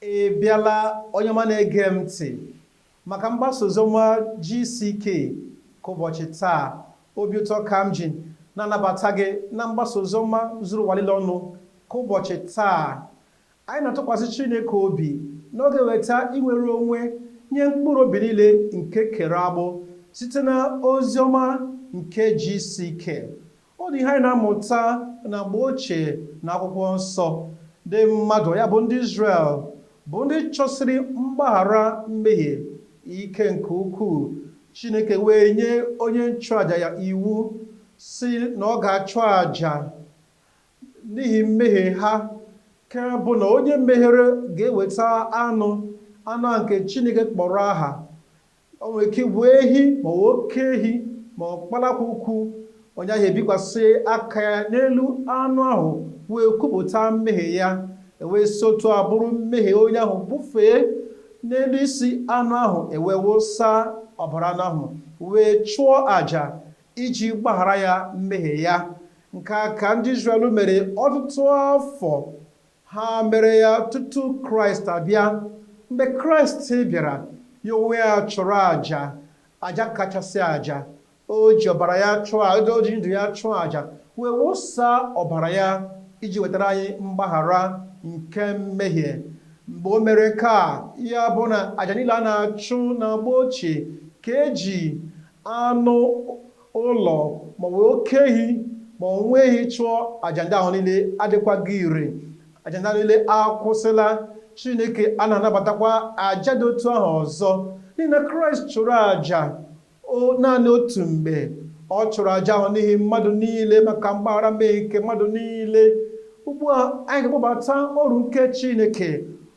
Ị bịala onye ọma na-ege m ntị maka mgbasa oziọma GCK nke ụbọchị taa. Obi ụtọ ka m ji na-anabata gị na mgbasa oziọma zuru ụwa niile ọnụ nke ụbọchị taa. Anyị na-atụkwasị Chineke obi na ọ ga-eweta inwere onwe nye mkpụrụ obi niile nke e kere agbụ site na oziọma nke GCK. Ọ dị ihe anyị na-amụta na mgbe ochie na akwụkwọ nsọ. Ndị mmadụ, ya bụ ndị Izrel, bụ ndị chọsiri mgbaghara mmehie ike nke ukwuu. Chineke wee nye onye nchụaja ya iwu sị na ọ ga-achụ aja n'ihi mmehie ha, nke bụ na onye mehiere ga-eweta anụ, anụ a nke Chineke kpọrọ aha. O nwere ike ịbụ ehi ma ọ bụ oke ehi ma ọ kpalakwukwu. Onye ahụ ebikwasị aka ya n'elu anụ ahụ wee kwupụta mmehie ya, e wee si otu a buru mmehie onye ahụ bufee n'elu isi anụ ahụ, e wee wụsa ọbara anụ ahụ wee chụọ aja iji gbaghara ya mmehie ya. Nke a ka ndị Izrel mere ọtụtụ afọ. Ha mere ya tutu Kraịst abịa. Mgbe Kraịst bịara, ya onwe ya chụrụ aja, aja kachasị aja. O ji ọbara ya chụọ aja, o ji ndụ ya chụọ aja, wee wụsa ọbara ya iji wetara anyị mgbaghara nke mmehie. Mgbe o mere nke a, ya bụ na aja niile a na-achụ n'agba ochie nke e ji anụ ụlọ, maọbụ oke ehi, maọbụ nwa ehi chụọ aja ndị ahụ niile adịkwaghị ire. Aja ndị ahụ niile akwụsịla. Chineke anaghị anabatakwa aja dị otu ahụ ọzọ. N'ihi na Kraịst chụrụ aja naanị otu mgbe. Ọ chụrụ aja ahụ n'ihi mmadụ niile maka mgbaghara mmehie nke mmadụ niile. Ugbu a, anyị ga-akpọbata oru nke Chineke,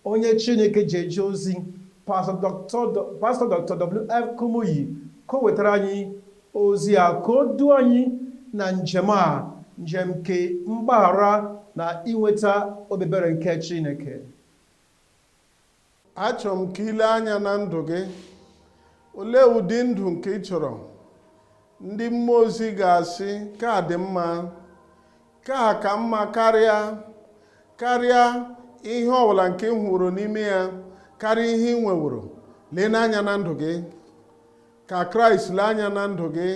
onye Chineke ji eje ozi. Pastọ Doctor W.F. Kumuyi ka o wetara anyị ozi a ka o duo anyị na njem a, njem nke mgbaghara na inweta obi ebere nke Chineke. Achọrọ m ka i lee anya na ndụ gị. Olee ụdị ndụ nke ị chọrọ? Ndị mmụọ ozi ga-asị, Nke a dị mma. nke a ka mma karịa karịa ihe ọbụla nke ị nweworo n'ime ya karịa ihe ị nweworo lee n'anya na ndụ gị ka kraịst lee anya na ndụ gị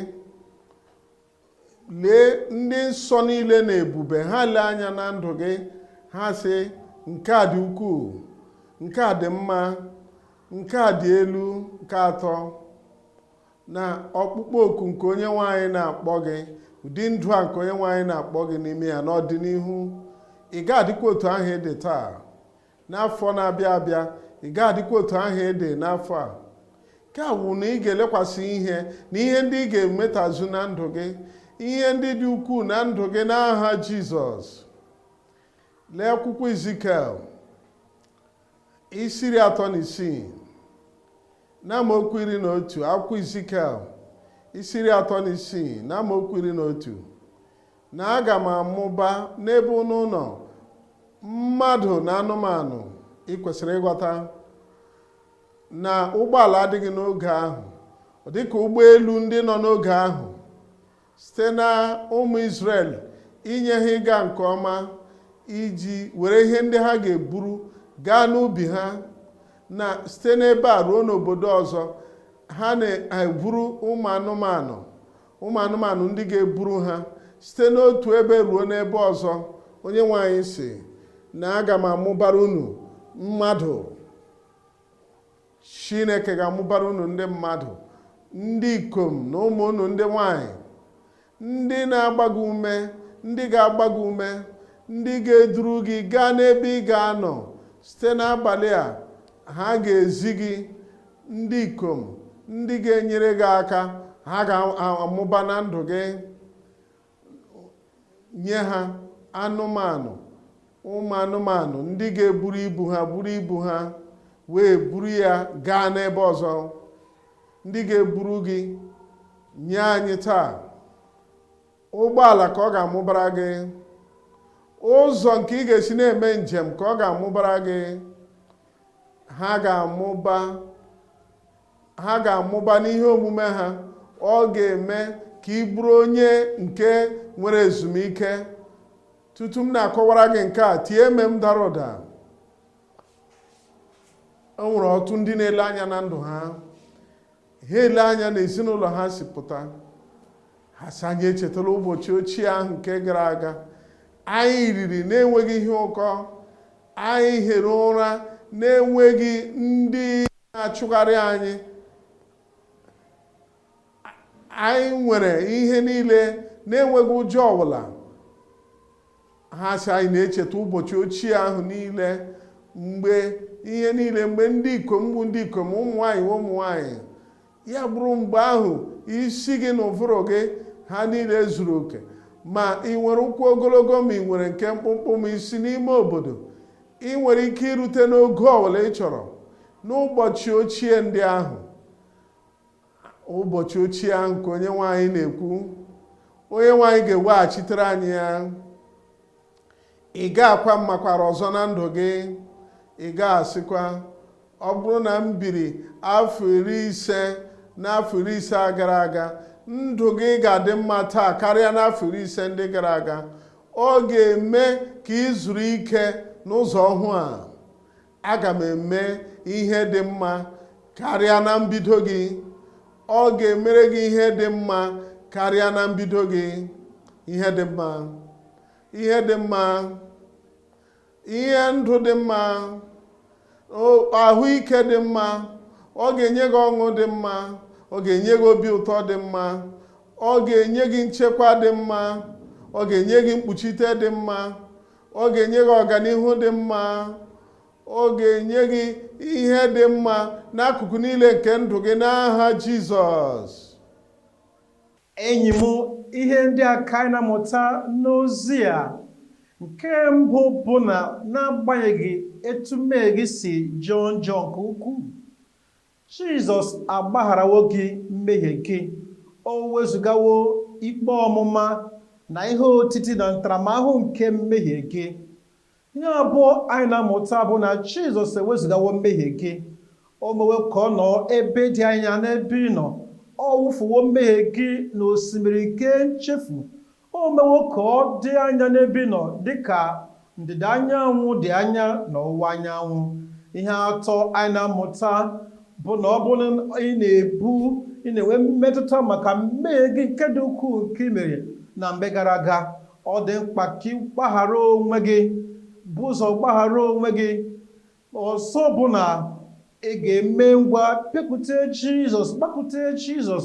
lee ndị nsọ niile na ebube ha lee anya na ndụ gị ha sị nke a dị ukwuu nke a dị mma nke a dị elu nke atọ na ọkpụkpọ oku nke onye nwe anyị na-akpọ gị ụdị ndụ a nke onye nwe anyị na-akpọ gị n'ime ya n'ọdịnihu ị ga-adịkwa otu ahụ ị dị taa n'afọ na-abịa abịa ị ga-adịkwa otu ahụ ị dị n'afọ a nke a wụ na ị ga-elekwasị ihe na ihe ndị ị ga-emetazu na ndụ gị ihe ndị dị ukwuu na ndụ gị n'aha Jizọs lee akwụkwọ Izikiel isi iri atọ na isii na amaokwu iri na otu akwụkwọ Izikiel isi iri atọ na isii na amaokwu iri na otu na aga m amụba n'ebe unu nọ mmadụ na anụmanụ ị kwesịrị ịghọta na ụgbọala adịghị n'oge ahụ dịka ụgbọelu ndị nọ n'oge ahụ site na ụmụ Izrel inye ha ịga nke ọma iji were ihe ndị ha ga-eburu gaa n'ubi ha na site n'ebe a ruo n'obodo ọzọ ha na-eburu ụmụ anụmanụ ụmụ anụmanụ ndị ga-eburu ha site n'otu ebe ruo n'ebe ọzọ onye nwe anyị sị na aga m amụbara unu mmadụ Chineke ga-amụbara unu ndị mmadụ ndị ikom na ụmụ unu ndị nwanyị ndị na-agba gị ume ndị ga-agba gị ume ndị ga-eduru gị gaa n'ebe ị ga-anọ site n'abalị a ha ga-ezi gị ndị ikom ndị ga-enyere gị aka ha ga-amụba na ndụ gị nye ha anụmanụ ụmụ anụmanụ ndị ga-eburu ibu ha buru ibu ha wee buru ya gaa n'ebe ọzọ ndị ga-eburu gị nye anyị taa ụgbọala ka ọ ga-amụbara gị ụzọ nke ị ga-esi na-eme njem ka ọ ga-amụbara gị ha ga-amụba ha ga-amụba n'ihe omume ha ọ ga-eme ka ị bụrụ onye nke nwere ezumike tutu m na-akọwara gị nke a tie amen dara ụda o nwere ọtụtụ ndị na-ele anya na ndụ ha ha ele anya na ezinụlọ ha si pụta ha sị anyị echetala ụbọchị ochie ahụ nke gara aga anyị riri na-enweghị ihe ụkọ anyị hiri ụra na-enweghị ndị na-achụgharị anyị anyị nwere ihe niile na-enweghị ụjọ ọbụla ha sị anyị na-echeta ụbọchị ochie ahụ niile mgbe ihe niile mgbe ndị ikom bụ ndị ikom ụmụ nwaanyị bụ ụmụ nwaanyị ya bụrụ mgbe ahụ isi gị na ụvụrụ gị ha niile zuru oke ma ị nwere ụkwụ ogologo ma ị nwere nke mkpụmkpụ ma i si n'ime obodo ị nwere ike irute n'ogo ọbụla ị chọrọ n'ụbọchị ochie ndị ahụ ụbọchị ochie ahụ ka onye nwe anyị na-ekwu onye nwe anyị ga-eweghachitere anyị ya ị ga-akwa mmakwara ọzọ na ndụ gị ị ga-asịkwa ọ bụrụ na m biri afọ iri ise n'afọ iri ise a gara aga ndụ gị ga-adị mma taa karịa n'afọ iri ise ndị gara aga ọ ga-eme ka ị zuru ike n'ụzọ ọhụụ a aga m eme ihe dị mma karịa na mbido gị ọ ga-emere gị ihe dị mma karịa na mbido gị ihe dị mma ihe dị mma ihe ndụ dị mma o- ahụike dị mma ọ ga-enye gị ọṅụ dị mma ọ ga-enye gị obi ụtọ dị mma ọ ga-enye gị nchekwa dị mma ọ ga-enye gị mkpuchite dị mma ọ ga-enye gị ọganihu dị mma ọ ga-enye gị ihe dị mma n'akụkụ niile nke ndụ gị n'aha Jizọs enyi m ihe ndị a ka anyị na-amụta n'ozi a nke mbụ bụ na n'agbanyeghị etu mmehie gị si jọọ njọ nke ukwuu Jizọs agbagharawo gị mmehie gị. O wezụgawo ikpe ọmụma na ihe otiti na ntaramahụhụ nke mmehie gị. Ihe abụọ anyị na-amụta bụ na Jizọs ewezụgawo mmehie gị. O mewo ka ọ nọọ ebe dị anya n'ebe ị nọ. Ọ wụfuwo mmehie gị n'osimiri nke nchefu O mewo ka ọ dị anya n'ebe ị nọ dị ka ndịda anyanwụ dị anya n'ọwụwa anyanwụ. Ihe atọ anyị na-amụta bụ na ọ bụrụ na ị na-ebu, ị na-enwe mmetụta maka mmehie gị nke dị ukwuu nke i mere na mgbe gara aga, ọ dị mkpa ka ị gbaghara onwe gị, bu ụzọ gbaghara onwe gị. Ọzọ bụ na ị ga-eme ngwa bịakute Jizọs, gbakute Jizọs,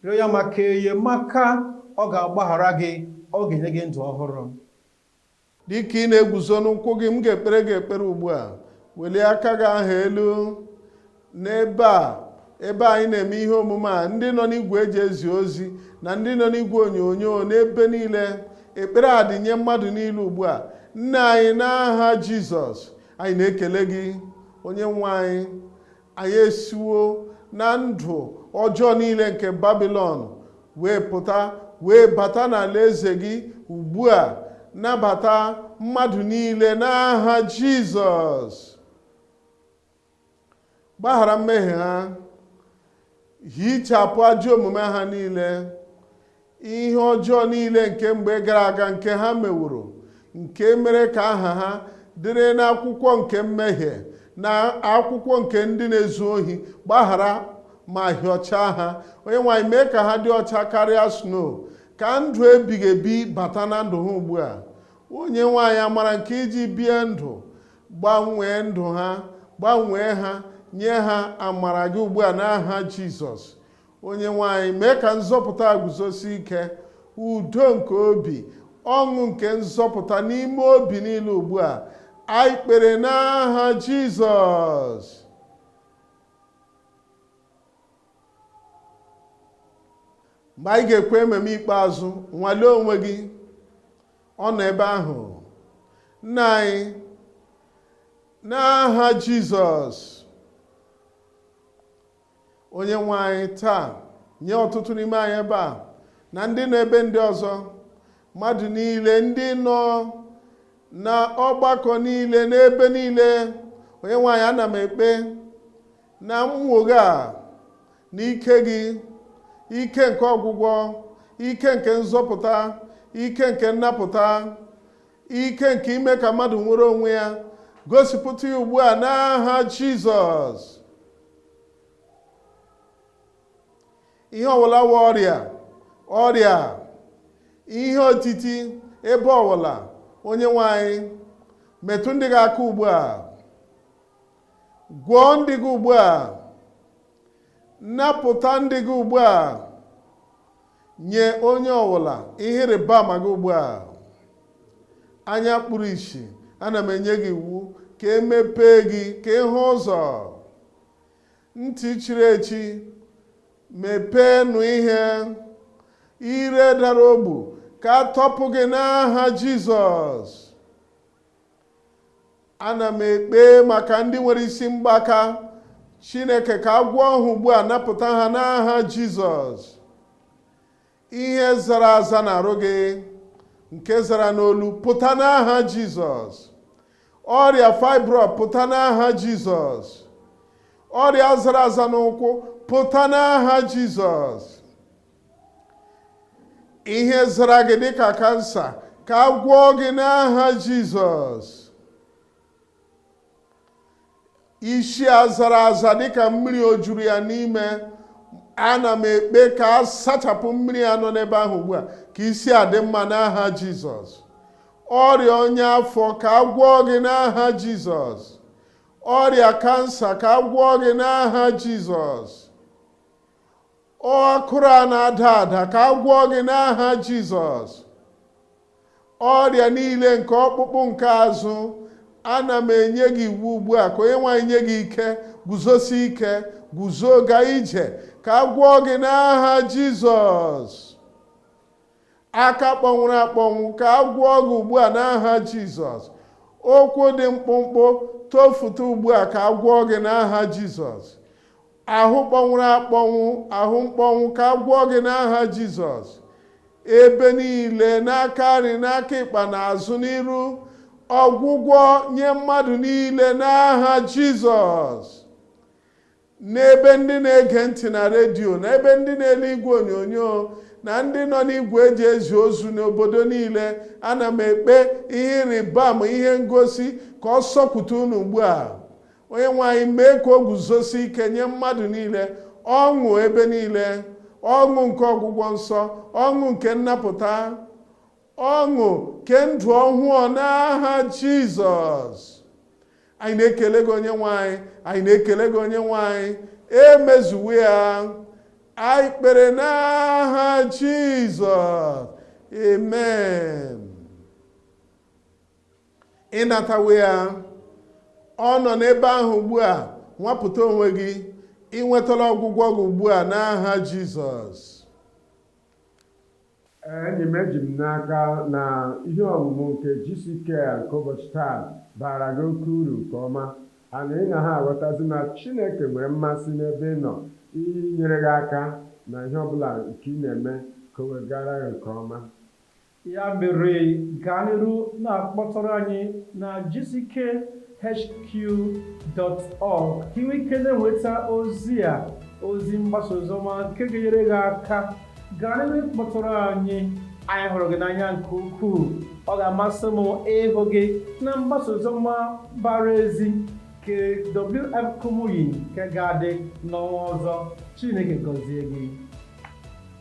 rịọ ya maka enyemaka, ọ ga-agbaghara gị, ọ ga-enye gị ndụ ọhụrụ. Dị ka ị na-eguzo n'ụkwụ gị, m ga-ekpere gị ekpere ugbu a. Welie aka gị ahụ elu. n'ebe a ebe anyị na-eme ihe omume a ndị nọ n'igwe e ji ezi ozi na ndị nọ n'igwe onyonyo n'ebe niile ekpere a dị nye mmadụ niile ugbu a nna anyị n'aha jizọs anyị na-ekele gị onye nwe anyị anyị esiwo na ndụ ọjọọ niile nke babilọn wee pụta wee bata n'alaeze gị ugbu a nabata mmadụ niile n'aha jizọs gbaghara mmehie ha hichapụ ajọ omume ha niile ihe ọjọọ niile nke mgbe gara aga nke ha meworo nke mere ka aha ha dịrị n'akwụkwọ nke mmehie na akwụkwọ nke ndị na-ezu ohi gbaghara ma hịọchaa ha onye nwe anyị mee ka ha dị ọcha karịa snow ka ndụ ebighị ebi bata na ndụ ha ugbu a onye nwe anyị amara nke iji bie ndụ gbanwee ndụ ha gbanwee ha nye ha amara gị ugbu a n'aha jizọs onye nwe anyị mee ka nzọpụta guzosi ike udo nke obi ọṅụ nke nzọpụta n'ime obi niile ugbu a anyị kpere n'aha jizọs mgbe anyị ga-ekwe amen ikpeazụ nwalee onwe gị ọ nọ ebe ahụ nna anyị n'aha jizọs onye nwe anyị taa nye ọtụtụ n'ime anyị ebe a na ndị nọ ebe ndị ọzọ mmadụ niile ndị nọ na ọgbakọ niile n'ebe niile onye nwe anyị ana m ekpe na nnwogha a na ike gị ike nke ọgwụgwọ ike nke nzọpụta ike nke nnapụta ike nke ime ka mmadụ nwere onwe ya gosipụta ya ugbu a n'aha jizọs ihe ọwụla wụ ọrịa ọrịa ihe otiti ebe ọwụla onye nwe anyị metụ ndị gị aka ugbu a gwọọ ndị gị ugbu a napụta ndị gị ugbu a nye onye ọbụla ihe ịrịba ama gị ugbu a anya kpuru isi ana m enye gị iwu ka e mepee gị ka ị hụ ụzọ ntị chiri echi mepee nụ ihe ire dara ogbu ka a tọpụ gị n'aha jizọs ana m ekpe maka ndị nwere isi mgbaka chineke ka a gwọọ ha ugbu a napụta ha n'aha jizọs ihe zara aza n'arụ gị nke zara n'olu pụta n'aha jizọs ọrịa fibroid pụta n'aha jizọs ọrịa zara aza n'ụkwụ pụta n'aha jizọs ihe zara gị dịka kansa ka a gwọọ gị n'aha jizọs isi a zara aza dịka mmiri o juru ya n'ime ana m ekpe ka a sachapụ mmiri a nọ n'ebe ahụ ugbu a ka isi a dị mma n'aha jizọs ọrịa ọnya afọ ka a gwọọ gị n'aha jizọs ọrịa kansa ka a gwọọ gị n'aha jizọs akụrụ a na-ada ada ka a gwọọ gị n'aha jizọs ọrịa niile nke ọkpụkpụ nke azụ ana m enye gị iwu ugbu a ka onye nwe anyị nye gị ike guzosi ike guzo gaa ije ka a gwọọ gị n'aha jizọs aka kpọnwụrụ akpọnwụ ka a gwọọ gị ugbu a n'aha jizọs ụkwụ dị mkpụmkpụ tofụta ugbu a ka a gwọọ gị n'aha jizọs ahụ kpọnwụrụ akpọnwụ ahụ mkpọnwụ ka a gwọọ gị n'aha jizọs ebe niile n'aka nri n'aka ịkpa n'azụ n'iru ọgwụgwọ nye mmadụ niile n'aha jizọs n'ebe ndị na-ege ntị na redio n'ebe ndị na-ele igwe onyonyo na ndị nọ n'igwe eji ezi ozi n'obodo niile ana m ekpe ihe ịrịba ama ihe ngosi ka ọ sọpụta unu ugbu a onye nwe anyị mee ka o guzosi ike nye mmadụ niile ọṅụ ebe niile ọṅụ nke ọgwụgwọ nsọ ọṅụ nke nnapụta ọṅụ nke ndụ ọhụụ n'aha jizọs anyị na-ekele gị onye nwe anyị anyị na-ekele gị onye nwe anyị e mezuwo ya anyị kpere n'aha jizọs amen ị natawo ya ọ nọ n'ebe ahụ ugbu a nwapụta onwe gị ị nwetala ọgwụgwọ gị ugbu a n'aha jizọs Ee, enyi m, eji m n'aka na ihe ọmụmụ nke GCK a nke ụbọchị taa baara gị oke uru nke ọma. A na ị na-aghọtazi na Chineke nwere mmasị n'ebe ị nọ inyere gị aka na ihe ọ bụla nke ị na-eme ka o wee gaara gị nke ọma? Ya mere, gaa n'iru na-akpọtụrụ anyị na GCK. HQ.org ka ị nwee ike na-enweta ozi a ozi mgbasa oziọma nke ga-enyere gị aka gaa n'iru kpọtụrụ anyị anyị hụrụ gị n'anya nke ukwuu ọ ga-amasị m ịhụ gị na mgbasa oziọma mbara ezi nke WF Kumuyi nke ga-adị n'ọnwa ọzọ Chineke gọzie gị